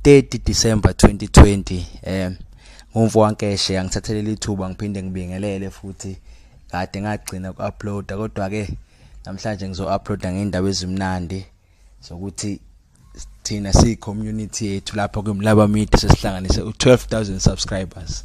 30 December 2020 eh ngumfo wankeshe yangithathelela ithuba ngiphinde ngibingelele futhi kade ngagcina ukuuploada kodwa ke namhlanje ngizo-uploada ngendaba ezimnandi zokuthi thina siyi community yethu lapha kwimlaba media sesihlanganise u12000 subscribers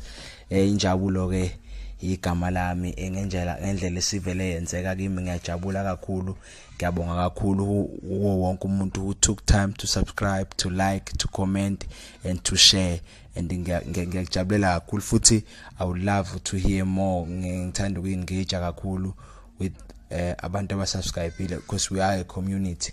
eh injabulo ke igama lami engendlela ngendlela esivele yenzeka kimi ngiyajabula kakhulu ngiyabonga kakhulu kuwo wonke umuntu who took time to subscribe to like to comment and to share and ngiyakujabulela kakhulu futhi i would love to hear more ngithanda ukuyengage kakhulu with uh, abantu abasubscribile because we are a community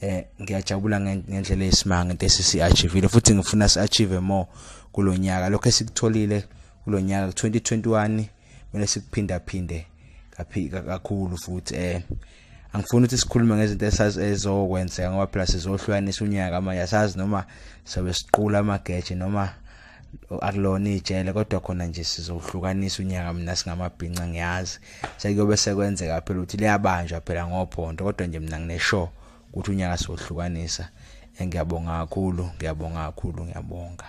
eh ngiyajabula ngendlela esimanga into esisiachievile futhi ngifuna siachieve more kulonyaka lokho esikutholile kulonyaka 2021 kumele sikuphinda phinde kakhulu futhi eh angifuni ukuthi sikhulume ngezinto esazi ezokwenzeka ngoba phela sizohlukanisa unyaka manje asazi noma sobe siqula amageje noma akulona ijele kodwa khona nje sizohlukanisa unyaka mina singamabhinca ngiyazi sekuyobe sekwenzeka phela ukuthi liyabanjwa phela ngophondo kodwa nje mina ngineshow ukuthi unyaka sizohlukanisa ngiyabonga kakhulu ngiyabonga kakhulu ngiyabonga